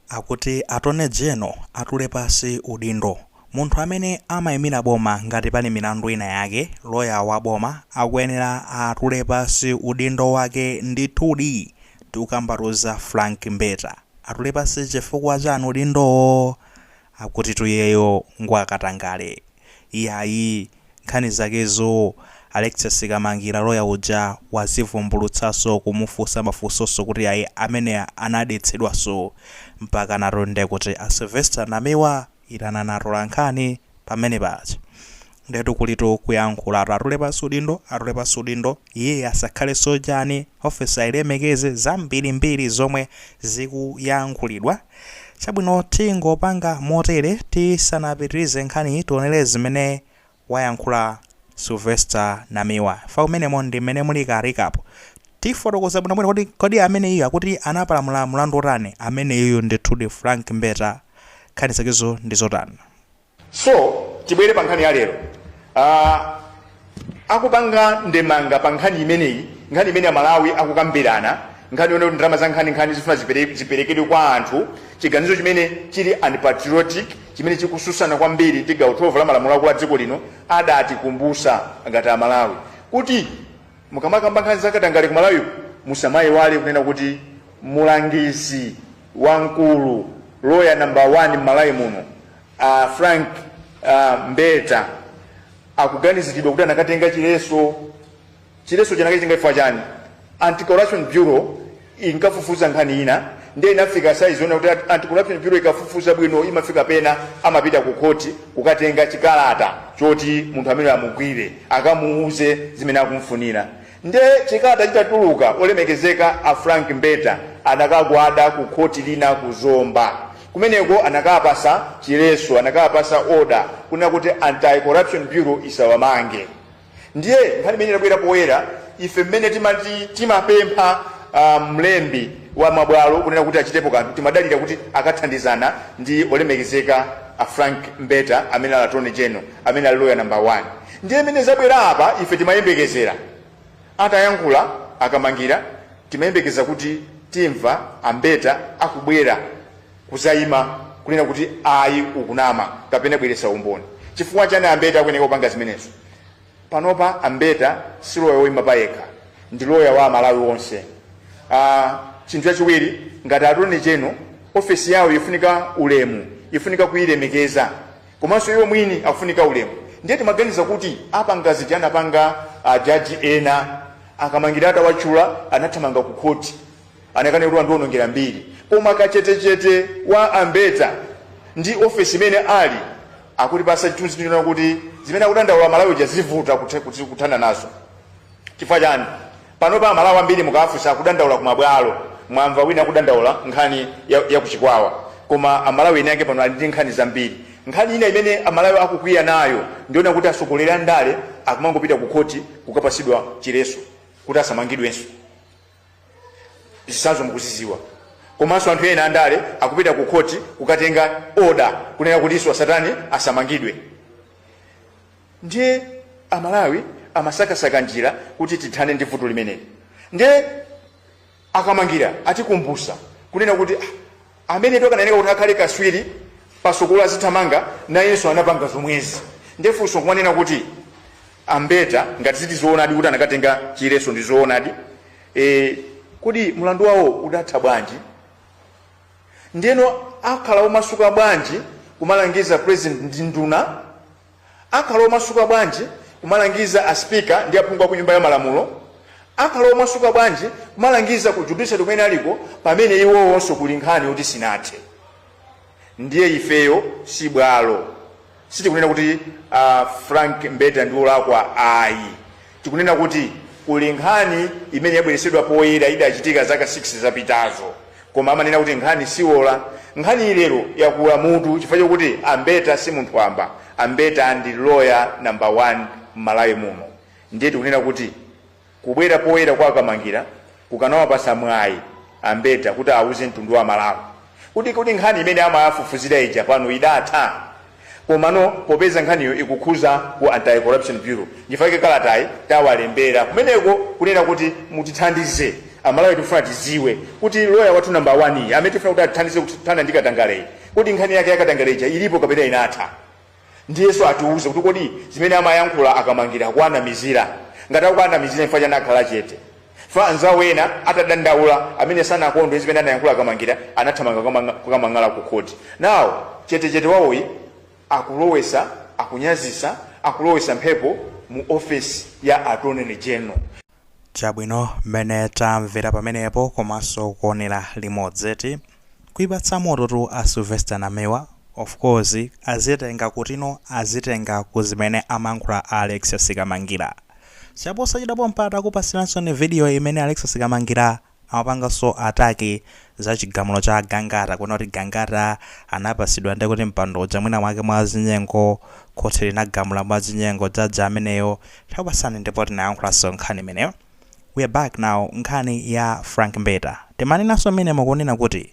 Akuti Attorney General atule pasi udindo. Munthu amene amaimira boma ngati pali milandu ina yake, lawyer wa boma akuyenera atule pasi udindo wake ndithudi. Tikukambatu za Frank Mbeta. Atule pasi chifukwa chani udindowo? Akutitu iyeyo ngwakatangale. Iyayi, nkhani zakezo Alexious Kamangila lawyer uja wazivumbulutsaso kumufusa mafusoso kuti iyayi amene anadetsedwaso mpakanatu ndekuti a Sylvester Namiwa itanani atolankhani pamenepaja. Ndetu kulitu kuyankhulatu atule pansi udindo atule pansi udindo. Iye asakhaleso chani, ofesi ayilemekeze, zambirimbiri zomwe zikuyankhulidwa. Chabwino tingopanga motere tisanapitirize nkhaniyi tionere zimene wayankhula Sylvester Namiwa chifukwa mmenemo ndi mmene muli ka recap. Tifotokoza bwinobwino kuti kodi ameneyu akuti anapalamula mulandu wotani ameneyuyu ndithudi Frank Mbeta nkhani zakezo ndi zotani. so tibwere pa nkhani ya lero uh, akupanga ndemanga pa nkhani imeneyi nkhani imene amalawi akukambirana nkhani yonena kuti ndalama za nkhaninkhani zifuna zipere- ziperekedwe kwa anthu chiganizo chimene chili unpatriotic chimene chikususana kwambiri ndi gawo 12 la malamulo akulu a dziko lino adatikumbutsa ngati amalawi kuti mukamakamba nkhani zakatangale ku malawi musamayiwale kunena kuti mulangizi wamkulu loya namba 1 m'malawi muno A Frank Mbeta akuganizilidwa kuti anakatenga chileso. Chilesocho anakachitenga chifukwa chani? Anti-Corruption Bureau inkafufuza nkhani ina ndiye inafika size yonena kuti Anti-Corruption Bureau ikafufuza bwino imafika pena amapita ku khoti kukatenga chikalata choti munthu amene amugwire akamuuze zimene akumfunira. Nde chikalata chitatuluka olemekezeka a Frank Mbeta anakagwada ku khoti lina ku Zomba. Kumeneko anakapasa chileso, anakapasa order kunena kuti Anti Corruption Bureau isawamange. Ndiye nkhani imene inabwera poyera ife mmene timati timapempha uh, mlembi wa mabwalo kunena kuti achitepo kanthu timadalira kuti akathandizana ndi olemekezeka a Frank Mbeta amene ali Attorney General. amene ali loya namba 1 ndiye mmene zabwera apa ife timayembekezera atayankhula a Kamangila timayembekeza kuti timva a Mbeta akubwera kuzayima kunena kuti ayi ukunama kapena bweresa umboni chifukwa chani a Mbeta akuyeneka kupanga zimenezo panopa a Mbeta si loya woyima payekha ndi loya wa amalawi wonse uh, chinthu chachiwiri ngati Attorney General ofesi yawo ifunika ulemu ifunika kuyilemekeza komanso iwo mwini akufunika ulemu ndiye timaganiza kuti apa nga zija anapanga ajaji ena akamangira atawatchula anathamanga ku khoti anakane kuti wandiwonongera mbiri koma kachetechete wa ambeta ndi ofesi imene ali akutipasa chithunzi chonena kuti zimene akudandaula amalawi zija zivuta kuthana nazo chifukwa chani panopa amalawi ambiri mukawafunsa akudandaula kumabwalo mwamva wina akudandaula nkhani ya, ya kuchikwawa koma amalawi ena ake pano ali ndi nkhani zambiri nkhani ina imene amalawi akukwiya nayo ndi yonena kuti atsogoleri a ndale akumangopita ku khoti kukapasidwa chiletso kuti asamangidwenso zitsanzo mukuziziwa komanso anthu ena andale akupita ku khoti kukatenga oda kunena kuti iwo asatani asamangidwe Ndiye a Malawi amasakasaka njira kuti tithane ndi vuto limeneli. Ndiye a Kamangira atikumbusa kunena kuti ah, amenetu akunenedwa kuti akhale kaswiri pa sikelo azithamanga nayenso anapanga zomwezi. Ndiye funso kumanena kuti a Mbeta ngati zili zoonadi kuti anakatenga chiletso ndi zoonadi. E, kodi mlandu wawo udatha bwanji? Ndiyeno akhala omasuka bwanji kumalangiza president ndi nduna Akhala omasuka bwanji kumalangiza a speaker ndi aphungu aku nyumba ya malamulo, akhala omasuka bwanji kumalangiza ku judiciary kumene aliko pamene iwowonso kuli nkhani yoti sinathe. Ndiye ifeyo si bwalo. Sitikunena kuti a Frank Mbeta ndi olakwa ayi. Tikunena kuti kuli nkhani imene yabweretsedwa poyera idachitika zaka 6 zapitazo koma amanena kuti nkhani siwola. Nkhaniyi lero yakula mutu chifukwa chokuti a Mbeta si munthu wamba. A Mbeta ndi lawyer number 1 m'Malawi muno ndiye tikunena kuti kubwera poyera kwa a Kamangira, kukanawapasa mwayi a Mbeta kuti awuze mtundu wa Malawi kuti kodi nkhani imene amawafufuzira ija pano idatha? Komano popeza nkhaniyo ikukhuza ku Anti-Corruption Bureau nchifukwa chake kalatayi tawalembera kumeneko kunena kuti mutithandize Amalawi tikufuna tidziwe kuti loya wathu namba 1 amene tikufuna kuti atithandize kuthana ndi katangaleyi kodi nkhani yake ya katangale ija ilipo kapena inatha? ndiyenso atiuze kuti kodi zimene amayankhula akamangira akuwanamizira ngati akuwanamizira chifukwa chani akhala chete fa anzawo ena atadandaula amene sanakondwe zimene anayankhula akamangira anathamanga kukamang'ala ku khoti now chetechete wawoyi akulowesa akunyazisa akulowesa mphepo mu ofesi ya attorney general Chabwino, mmene tamvera pamenepo komanso kuonera limodzi eti. Kuipatsa mototu a Sylvester Namiwa. Of course azitenga kutino azitenga ku zimene amayankhula a Alexis Kamangira. Chaposachedwa pompa takupasiransoni video imene Alexis Kamangira amapanganso attack za chigamulo cha Gangata kunena kuti Gangata anapasidwa ndi kuti mpando uja mwina mwake mwa zinyengo khoti linagamula mwa zinyengo judge ameneyo takupatsani ndipo tinayankhulanso nkhani imeneyo we are back now nkhani ya Frank Mbeta timanenanso mmenemo kunena kuti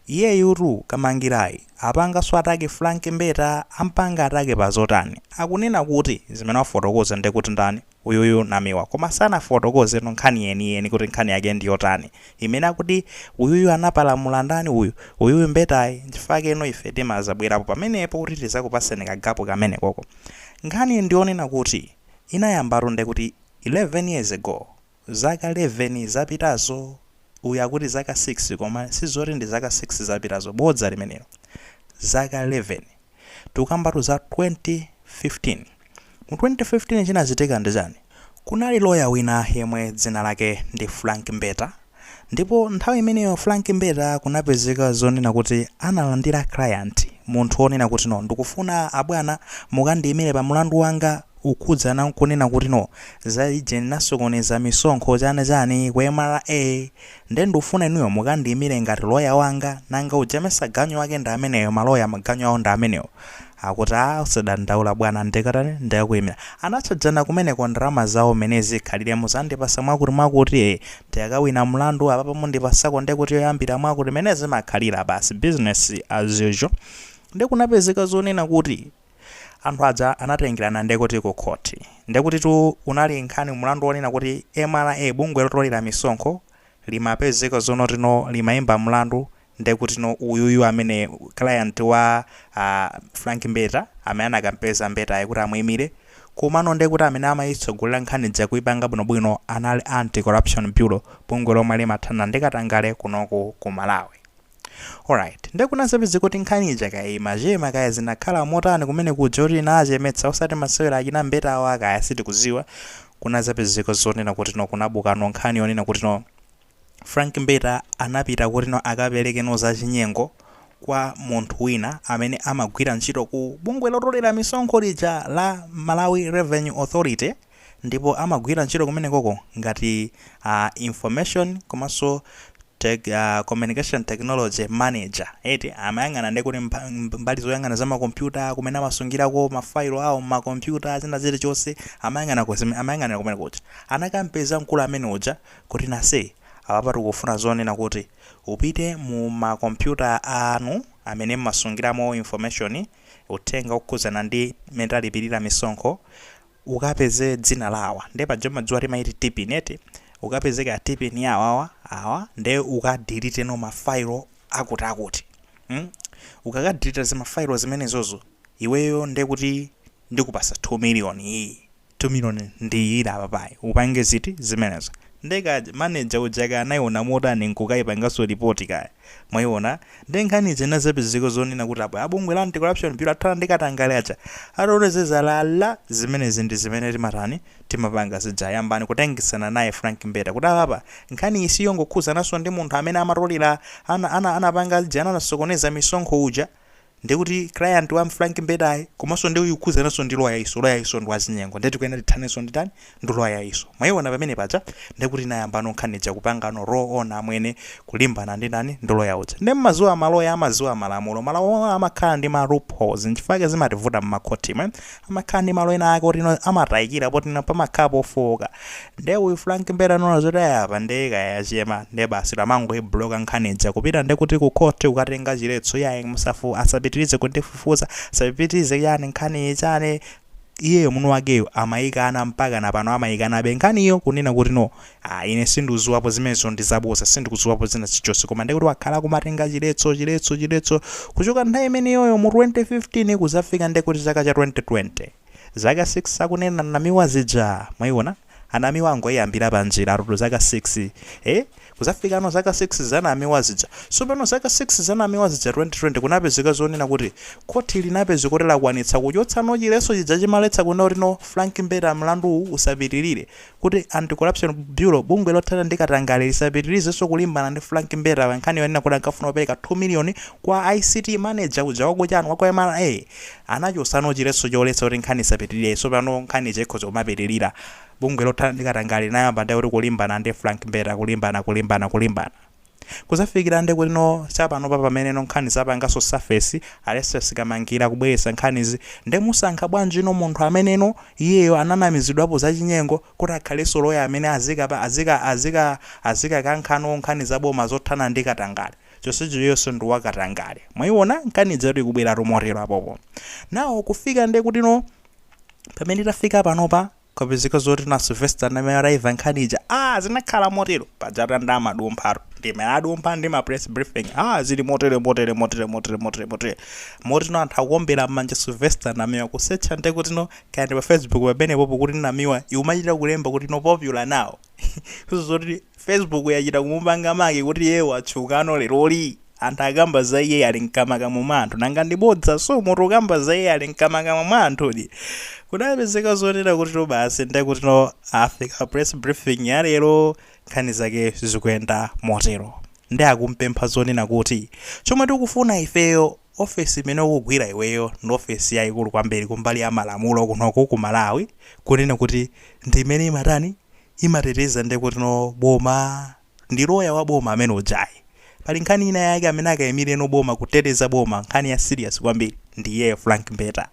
iyeyutu Kamangirayi apanganso attack Frank Mbeta ampanga attack pa zotani akunena kuti zimene wafotokoza ndi kuti ndani uyuyu namiwa koma sanafotokozetu nkhani yeni yeni kuti nkhani yake ndiyotani imene akuti uyuyu anapalamula ndani uyu uyuyu mbetayi nchifake no ife timazabwerapo pamenepo kuti tizakupaseni kagapu kamenekoko nkhani ndiyonena kuti inayambatu ndekuti 11 years ago zaka 11 zapitazo uyu akuti zaka 6 koma sizoti ndi zaka 6 zapitazo bodza limenelo zaka 11 Tikukambatu za 2015. Mu 2015 chinachitika ndi chani? Kunali lawyer wina yemwe dzina lake ndi Frank Mbeta ndipo nthawi imeneyo Frank Mbeta kunapezeka zonena kuti analandira client munthu onena kuti no ndikufuna abwana mukandiyimire pa mlandu wanga ukhudzana nkunena kuti no za ijeni ndinasokoneza misonkho chani chani ku mra Nde ndufuna inuyo mukandiimile ngati lawyer wanga nanga uja mesa ganyu wake ndi ameneyo ma lawyer maganyu awo ndi amenewo akuti aah usadandaula bwana ndikatani ndikakuimila anatchajana kumeneko ndalama zawo mene zikhalire muzandipasa mwakuti mwakuti ee ndikakawina mlandu apapa mundipasako ndekuti yoyambira mwakuti mene zimakhalira basi business as usual nde kunapezeka zonena kuti Anthu aja anatengerana ndekuti ku khoti. Ndekutitu unali nkhani mlandu wonena kuti mra, bungwe lotolera misonkho, limapezeka zonena kuti no limaimba mlandu ndekutino uyuyu amene client wa a Frank Mbeta amene anakampeza Mbetayo kuti amuimire komano ndekuti amene amaitsogolera nkhani ija kuipanga bwinobwino anali Anti-Corruption Bureau, bungwe lomwe limathana ndi katangale kunoku ku Malawi. Alright, nde kunazapezeka kuti nkhani ija kaya imachema kaya zinakhala motani kumene kuja kuti inachemetsa osati masewera achina mbetawa kaya sitikuziwa kunazapezeka zonena kuti no kunabukano nkhani yonena kuti no Frank Mbeta anapita kuti no akapereke no zachinyengo kwa munthu wina amene amagwira ntchito ku bungwe lotolera misonkho lija la Malawi Revenue Authority ndipo amagwira ntchito kumenekoko ngati a Information komanso tech, uh, Communication Technology Manager eti amayang'ana ndi kuti mba- mb- mbali zoyang'ana za makompyuta kumene amasungirako mafailo awo mmakompyuta zina zilichonse amayang'ana ku zime- amayang'anira kumene kuja anakampeza mkulu amene uja kuti nase apapa tikufuna zonena kuti upite mu makompyuta anu amene mmasungiramo information uthenga okhudzana ndi mmene talipirira misonkho ukapeze dzina la awa nde paja umadziwa timaiti TPIN eti ukapeze ka TPIN ya awawa awa nde ukadiliteno ma file akuti akuti mm? ukakadilita zima file zimenezozo iweyo nde kuti ndikupasa 2 million iyi 2 million ndiyira apapayi upange ziti zimenezo nde ka manager uja kaya anaiona motani nkukaipanganso report kaya Mwayiwona nde nkhani ija inazapezeka zonena kuti apa a bungwe la Anti Corruption Bureau athana ndi katangale aja atole zinyalala zimenezi ndi zimene timatani timapanga zija yambani kutengesana naye Frank Mbeta kuti apapa nkhani iyi siyongokhuzananso ndi munthu amene amatolera ana ana anapanga lija anasokoneza misonkho uja Ndiye kuti client wa Frank Mbetayi komanso ndiyokhudzananso ndi loyayiso, loyayiso ndi wazinyengo ndiye tikuyenera tithanenso ndi ndani? Ndi loyayiso. Mwaiona pamene paja? Ndiye kuti inayambano nkhani ija kupangano roll on amwene kulimbana ndi ndani? Ndi loya uja. Ndiye mumadziwa maloya amadziwa malamulo, malamulo amakhala ndi ma loopholes n'chifukwa chake zimativuta m'makhotimo. amakhala ndi malo ena ake oti no amatayikira poti no pamakhala pofowoka nde uyu Frank Mbeta anaona zoti ayi apa nde kaya yachema nde basi tamangoibloka nkhani ija kupita nde kuti ku court kukatenga chiletso yayi musafu asapitirize kundifufuza asapitirize chani nkhani ichane iyeyo munthu wakeyo amayikana mpaka na pano amayikanabe nkhaniyo kunena kuti no Ah ine sindikuziwapo zimenezo ndizaboza sindikuziwapo zina chichonse koma ndekuti wakhala kumatenga chiletso chiletso chiletso kuchoka nthawi imeneyoyo mu 2015 kuzafika ndekuti chaka cha 2020 zaka 6 akunena Namiwa zija mwaiona a Namiwa angoyambira panjira atutu zaka 6 eh kuzafikano zaka 6 za Namiwa zija sopano zaka 6 za Namiwa zija 2020 kunapezeka zonena kuti khoti linapezeka kuti lakwanitsa kuchotsa no chiletso chija chimaletsa kuna kuti no Frank Mbeta mlandu usapitirire kuti Anti-Corruption Bureau, bungwe lothana ndi katangale, lisapitirizenso kulimbana ndi Frank Mbeta pa nkhani yonena kuti ankafuna kupereka 2 miliyoni kwa ICT manager uja wa ku chani, wa ku MRA, anachotsano chiletso choletsa kuti nkhani isapitirire, tsopano nkhani ija ikhoza kumapitirira. Bungwe lothana ndi katangale linayamba ndiye kuti kulimbana ndi Frank Mbeta, kulimbana, kulimbana, kulimbana. Kuzafikila nde kuti no chapanopa pamene no nkhani zapangaso surface, Alexious Kamangila kubwelesa nkhanizi, nde musankha bwanji no munthu amene no iyeyo ananamizidwapo zachinyengo kuti akhaleso loya amene azika pa azika azika azika kankha no nkhani za boma zothana ndi katangale chonsecho iyeyoso ndi wa katangale mwaiona nkhani ijatu ikubwelatu motelo apopo now kufika nde kuti no pamene tafika panopa Kwapezeka zoti no a Sylvester Namiwa atayimva nkhani ija. Ah, zinakhala motero. Pajatu nde amadumphatu. Nde amadumpha ndi ma press briefing. Ah, zili motere motere motere motere motere motere. Moti no anthu akuombera m'manja Sylvester Namiwa kusecha nde kuti no kaya ndi pa Facebook pamenepopo kuti Namiwa ikumachita kulemba kuti no popular now. Zoti Facebook yachita kumupanga make kuti iyeyo watchukano leroli? Anthu akamba za iyeyi ali mkamakamwa mwa anthu nanga ndi bodza? So munthu ukamba za iyeyi ali mkamakamwa mwa anthudi? Kudapezeka zonena kutitu basi nde kutino afika press briefing ya lero nkhani zake zikuyenda motero. Nde akumpempha zonena kuti chomwe tikufuna ifeyo ofesi imene ukugwira iweyo ndi ofesi yaikulu kwambiri kumbali ya malamulo kunoku ku Malawi kunena kuti ndi imene imatani? imateteza ndekutno boma ndi loya wa boma amene ujayi pali nkhani ina yake amene akaimileno boma kuteteza boma nkhani ya serious kwambiri ndi iyeyo frank mbeta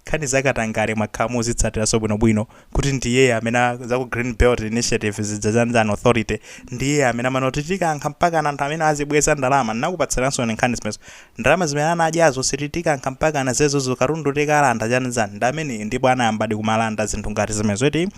nkhani za katangale mwakhala mukuzitsatiraso bwinobwino kuti ndi iyeyo amene za ku green belt initiative zija chanchani authority ndi iyeyo amene amanena kuti tikankha mpakana anthu amene azibweza ndalama ndinakupatsiranso nkhani zimenezo ndalama zimene anadyazo siti tikankha mpakana zimenezozo katundu tikalanda chanchani ndi ameneyo ndipo anayambadi kumalanda zinthu ngati zimenezo eti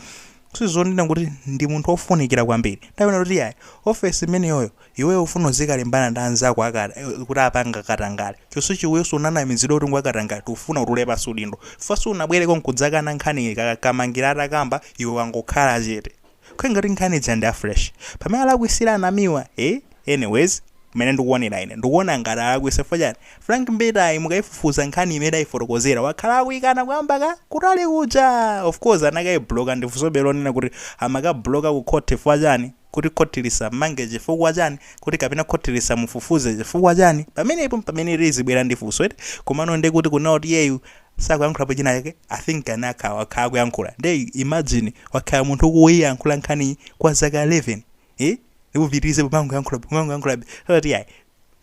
So zonena kuti ndi munthu wofunikira kwambiri. Nde akunena kuti iyayi, ofesi imeneyoyo, iweyo ufuna uzikalimbana ndi anzako aka, kuti apanga katangale. Chonsecho iweso unanamizidwa kuti ngwakatangale, tikufuna utule pansi udindo. Chifukwa sunabwereko nkudzakana nkhani, Kamangila atakamba, iwe wangokhala chete. Kukhala ngati nkhani ija ndi ya fresh. Pamene alakwisira a Namiwa, eh? Anyways mmene ndikuonera ine ndikuona ngati alakwisa chifukwa chani Frank Mbetayi mukaifufuza nkhani imene aifotokozera wakhala akuikana kuyambira kutali kuja! Of course anakaibloka ndi funsobe lonena kuti amakabloka ku court chifukwa chani? Kuti court lisamumange chifukwa chani? Kuti kapena court lisamufufuze chifukwa chani? Pamenepo mpamene lizibwera ndi funso eti? Komano nde kuti kunena kuti iyeyu sakuyankhulapo china chake I think anakha wakhala akuyankhula nde imagine wakhala munthu akuiyankhula nkhaniyi kwa zaka 11 eh ndipo upitirize kumangoyankhula kumangoyankhulabe kuti ayi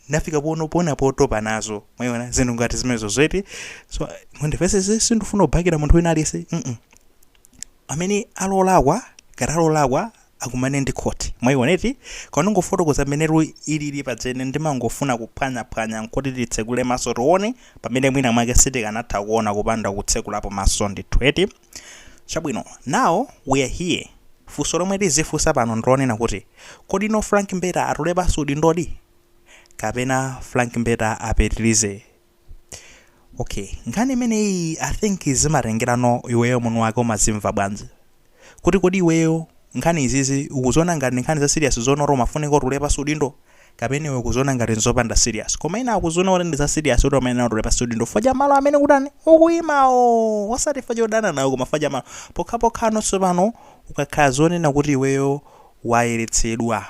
ndafika pena potopa nazo mwayiona zinthu ngati zimenezo eti so mundimvetsetse sindifuna kubakira munthu wina aliyense mm amene ali wolakwa ngati ali wolakwa akumane ndi khoti mwayiona eti koma ndingofotokoza mmene lu ilili paja ine ndimangofuna kuphwanyaphwanya nkuti titsekule maso tione pamene mwina mwake sitikanatha kuona kupanda kutsekulapo maso ndithu eti Chabwino, now we're here, funso lomwe tizifunsa pano ndilonena kuti, kodi no Frank Mbeta atule pansi udindodi? Kapena Frank Mbeta apitilize? Ok, nkhani imeneyi I think zimatengera no iweyo mwini wake umazimva bwanji. Kuti kodi iweyo nkhani izizi ukuziona ngati ndi nkhani za serious zoona kuti amafunika atule pansi udindo? kapena iwe ukuziona ngati nzopanda serious koma ena akuziona kuti ndi za serious kuti amene nawo tule pansi udindo chifukwa cha malo amene ukutani ukuyimawo osati chifukwa chodana nawo koma chifukwa cha malo pokhapokhano tsopano ukakhala zonena kuti iweyo wayeretsedwa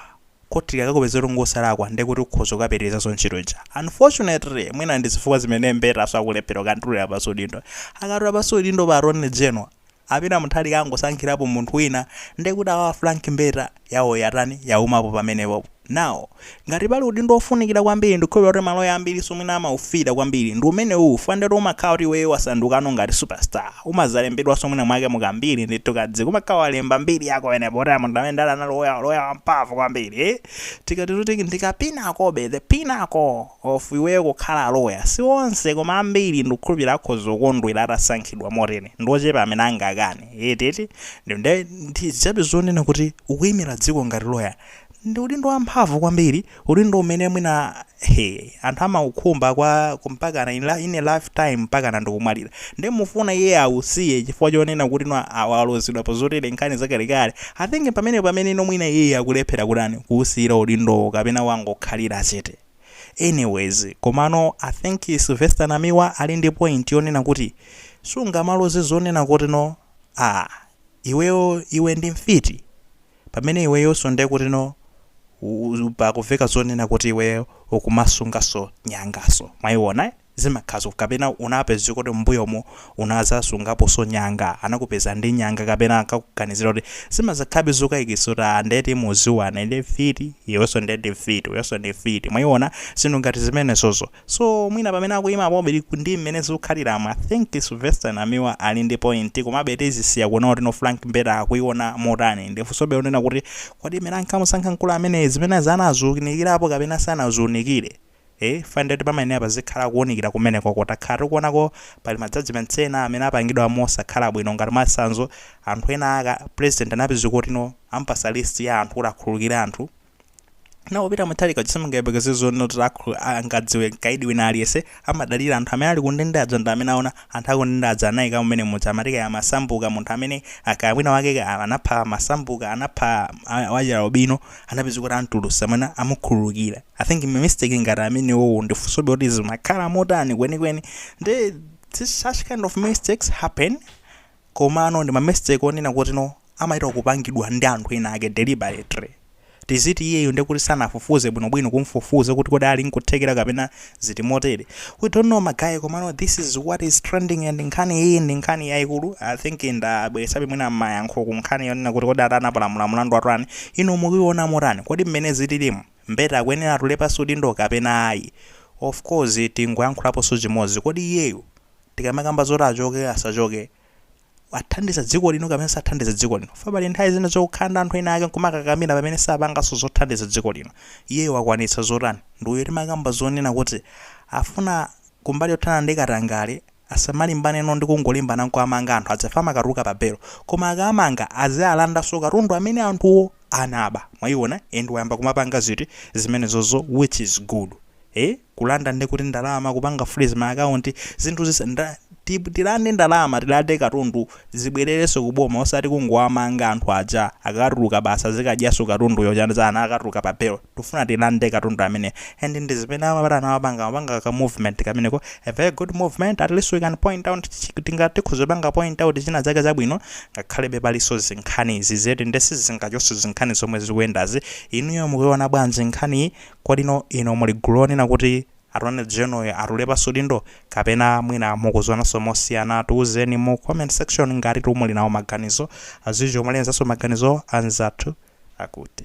khoti likakakupezera kuti ngosalakwa ndiye kuti ukhoza kukapitirizanso ntchito ija unfortunately mwina ndi zifukwa zimene mbetaso akulephera kukatulira pansi udindo akatula pansi udindo pa attorney general A Peter Mutharika angosankhirapo munthu wina nde kuti awa a Frank Mbeta yawo yatani? Yaumapo pamenepopo. Now, ngati pali udindo wofunikira kwambiri ndikukhulupira kuti maloya ambirinso mwina amaufira kwambiri ndi umenewu chifukwa nde kuti umakhala kuti iweyo wasandukano ngati super star. Umazalembedwanso mwina mwake mu kambiri ndithu kadziko. Umakhala walemba mbiri yako pamenepo kuti a munthu ameneyu nde anali loya, loya wamphamvu kwambiri. Tikati ndi ka pinnacle be, the pinnacle. of iweyo kukhala lawyer si onse koma ambiri ndikukhulupilira akhoza kukondwera atasankhidwa motere ndi ochepa amene angakane eti eti nde ndi zabe zonena kuti ukuimira dziko ngati lawyer ndi udindo wamphamvu kwambiri udindo umene mwina he anthu amaukhumba kwa mpakana in a, in a lifetime mpakana ndikumwalira nde mufuna iye ausiye chifukwa chonena kuti no awa alozedwa pa zotere nkhani zakalekale i think pamene pamene no mwina iye akulephera kutani kuusiyira udindowo kapena wangokhalira chete Anyways komano I think Sylvester Namiwa ali ndi point yonena kuti sungamaloze zonena kuti no ah iweyo iwe ndi mfiti pamene iweyonso nde kuti no u- u- pakuveka zonena kuti iweyo ukumasunganso nyanganso mwayiona eh? zimakhazo kapena unapezeka kuti m'mbuyomo unazasungaponso nyanga anakupeza ndi nyanga kapena ankakuganizira kuti zimazakhalabe zokayikitsa kuti aa nde kuti mudziwana ndi mfiti iwenso nde ndi mfiti uyonso ndi mfiti mwayiona zinthu ngati zimenezozo so mwina pamene akuyima pabwino ndi m'mene zikukhaliramu I think Sylvester Namiwa ali ndi point komabe tizisiya kuona kuti no Frank Mbeta akuyiona motani ndi funsobe lonena kuti kodi m'mene ankamusankha nkulu ameneyi zimenezi anaziunikirapo kapena sanaziunikire? Eee fine ndeti pamayenera pazikhala kuunikira kumeneko coz takhala tikuonako pali ma judgements ena amene apangidwa mosakhala bwino ngati mwachitsanzo anthu ena ake president anapezeka kuti no amupasa list ya anthu kuti akhululukire anthu no Peter Mutharika uja simungayembekeze zonena kuti angadziwe mkaidi wina aliyense amadalira anthu amene ali kundende aja ndi amene aona anthu akundende aja anaika mmenemuja amati kaya Masambuka munthu amene kaya mwina wake ka- anapha Masambuka anapha a- wachialubino anapezeka kuti amtulutsa mwina amukhululukira I think ma mistake ngati amenewowo ndifunsobe kuti zimakhala motani kwenikweni nde such kind of mistakes happen komano ndi ma mistake onena kuti no amaita kupangidwa ndi anthu ena ake deliberately tiziti iyeyo nde kuti sanafufuze bwinobwino kumfufuza kuti kodi ali nkuthekera kapena ziti motere we don't know magaye komano this is what is trending and nkhani iyi ndi nkhani yayikulu i think ndabweretsabe mwina mayankho ku nkhani yonena kuti kodi atani apalamula mlandu watani inu mukuiona motani kodi mmene zililimu Mbeta akuyenera atule pansi udindo kapena ayi? Of course tingoyankhulaponso chimodzi, kodi iyeyu tikamakamba zoti achoke, asachoke, athandiza dziko lino kapena sathandiza dziko lino? Chifukwa pali nthawi zina zokukhala ndi anthu ena ake nkumakakamira pamene sapanganso zothandiza dziko lino. Iyeyu akwanitsa zotani? Ndiyo timakamba zonena kuti afuna kumbali yothana ndi katangale, Asamalimbaneno ndi kungolimbana nkuwamanga anthu ajawa amakatuluka pa belo. Koma akaamanga azialandaso katundu amene anthuwo anaba. Mwaiona and wayamba kumapanga zinthu zimenezozo which is good. Eeh kulanda ndiye kuti ndalama kupanga freeze ma account zinthu ziti tilande ndalama tilande katundu zibwelelenso ku boma osati kungowamanga anthu aja akakatuluka basi azikadyanso katunduyo chani chani akatuluka pa belo. tufuna tilande katundu amene and ndi zimene ayamba atawapanga amapanga ka movement kameneko a very good movement at least we can point out tinga tikhoza panga point out china chake chabwino ngakhalebe palinso zinkhani izi ziti nde sizingachonso zinkhani zomwe zikuyendazi inuyo mukuiona bwanji nkhaniyi kodi inuyo muli gulu onena kuti Attorney General atule pansi udindo kapena mwina mukuzionanso mosiyana tiuzeni mu comment section ngati muli nawo maganizo anzathu mulemekezenso maganizo a anzathu akuti